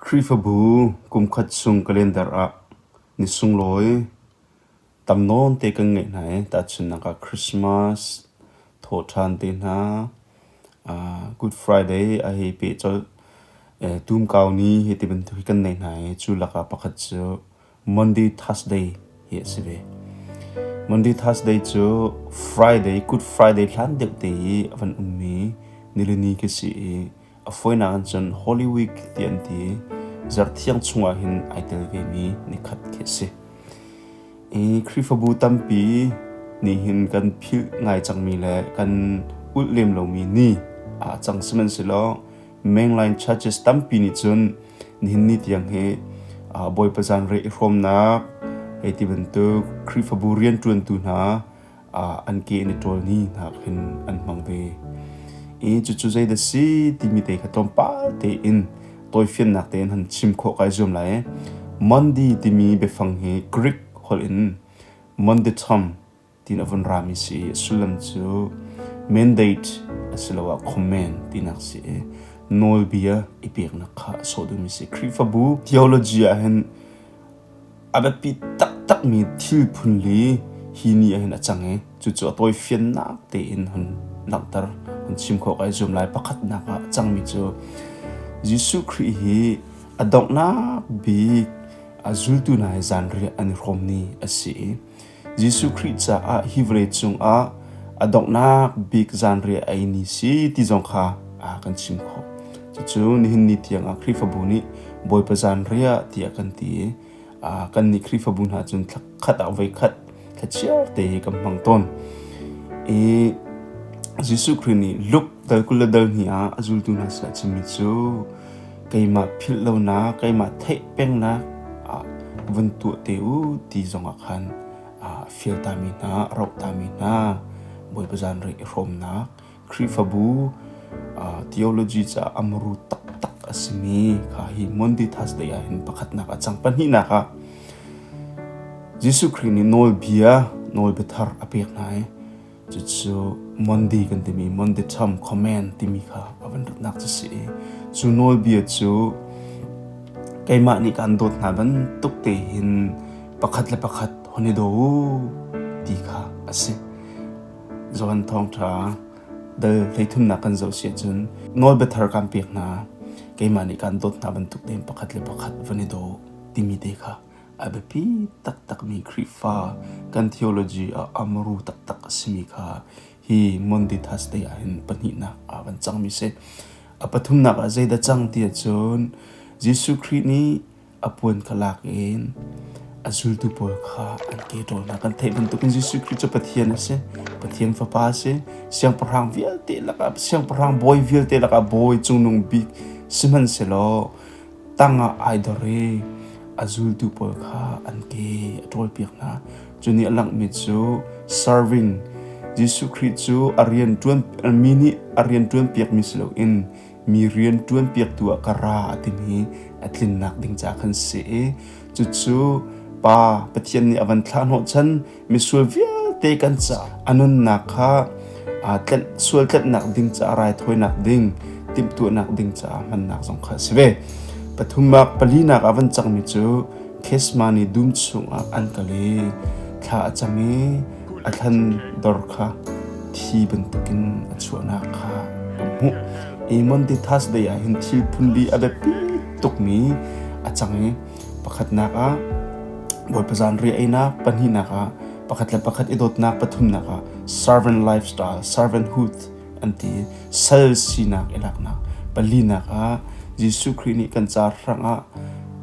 Khrihfabu kumkhat chung calendar ah ni sunglawi tam nawn te kan ngeih hna i tahchunhnak ah Christmas thaw ṭhan te hna, Good Friday a hei peh colh, Tumkau ni hi ti bantuk hi kan nei hna i cu lakah pakhat cu Monday Thursday hi a si ve. Monday Thursday cu Friday Good Friday hlan deuh te i a van ummi nilini khi si i a foinak in cun Holy Week ti an ti zarhthiang chungah hin ai tel vemi nikhat khi si. I Khrihfabu tampi nih hin kan philh ngai cangmi le kan ulh lem lomi ni a cang sihmanhsehlaw Mainline churches tampi nih cun nihin ni tiang hi Bawipa zan re i hrawmnak hei ti bantuk Khrihfabu rianṭuantu hna an ke in i ṭawl ni hna khin an hmang ve. I cucu zeidah si timi te kha tlawmpal tein tawifiannak tein han chim khawh kai zuam lai i Monday timi biafang hi Greek holh in mondatom ti na vun rami si i sullam cu mandate asiloah comment tinak si i nawlbia i peknak kha a sawh duhmi si Khrihfabu theology ahhin a biapi taktakmi thil phunli hi ni ahhin a cang i cucu a tawifiannak tein hun langhter hun chim khawh ka i zuam lai pakhatnak ah a cangmi cu Jesuh Khrih hi a donghnak bik a zultu hna he zan riah an i hrawm ni a si i Jesuh Khrih caah hi vawlei cungah a donghnak bik zanriah ei ni si ti zong kha a kan chim khawh. Cucu nihin ni tiangah Khrihfabu nih Bawipa zanriah tiah kan ti i uh, kan nih Khrihfabu hna cun khat ah voi khat thlachiar te kan hmang tawn. I Jesuh Khrih nih Luke dal kul le dal hnih ah a zultu hna sinah chimmi cu keimah philh lonak, keimah theih pengnak ah vun tuah te u ti zongah khan fial tami hna, roh tami hna, Bawipa zanrei i hrawmnak, Khrihfabu theology caah amru taktak a simi kha hi Monditas lei ah hin pakhatnak a cang. Pahnihnak ah Jesuh Khrih nih nawlbia, nawlbiathar a pek hna i Cucu Monday kan timi Monday Tom Comment timi kha a van dawtnak cu si i cu nawlbia cu keimah nih kaan dawt hna bantuk te hin pakhat le pakhat hon i do u ti kha a si. Johan Thawngṭha dal hleithumnak kan zoh si ahcun nawlbia thar kaan pek hna keimah nih kaan dawt hna bantuk tein pakhat le pakhat van i do timi te kha A biapi taktakmi Khrihfa kan theology ah amuru taktak a simi kha hi Mondithas te ahhin pahnihnak ah kan cangmi a si. A pathumnak ah zeidah cang ti ahcun Jesuh Khrih nih a puan kha lak in a zultu pawl kha an ke ṭawl hna. Kan theih bantukin Jesuh Khrih cu Pathian a si. Pathian Fapa a si. Siangpahrang vialte lakah, Siangpahrang bawi vialte lakah bawi Cungnung Bik sihmanhsehlaw tangah ai dor i a zultu pawl kha an ke a ṭawlpiak hna. Cu nih a langhmi cu serving Jesuh Khrih cu a rian ṭuan mi nih a rian ṭuan piakmi si loin mi rian ṭuan piaktu ah ka ra a timi a tlinnak ding ca khan si i cucu Pa Pathian nih a van thlah hnawhchan misual vialte kan ca a nunnak kha aa tlanh sual tlanhnak ding caah raithawinak ding timhtuahnak ding caah hmannak zong kha a si ve pathumnak palinak ah van cangmi cu kesma ni dum chungah an kal i thla a cam i a thlan dor kha thi bantukin a chuahnak kha hmuh i monditas day ah hin thil phun li a biapi tukmi a cang i pakhatnak ah Bawipa zan ri einak pahnihnak ah pakhat le pakhat i dawtnak pathumnak ah servant lifestyle servanthood an ti sal sinak i laknak palinak ah Jesuh Khrih nih kan car hrangah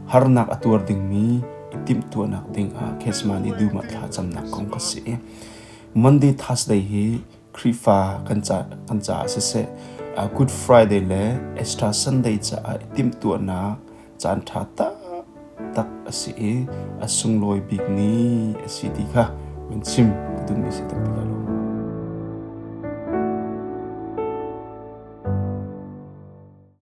harnak a tuar dingmi i timhtuahnak dingah Kesman i duma thla camnak kong ka si Monday Thursday hi Khrihfa kan ca kan caah siseh Good Friday le Easter Sunday caah i timhtuahnak caanṭha taktak a si i a sunglawi bik ni a si ti kha min chim duhmi si ti lai lo.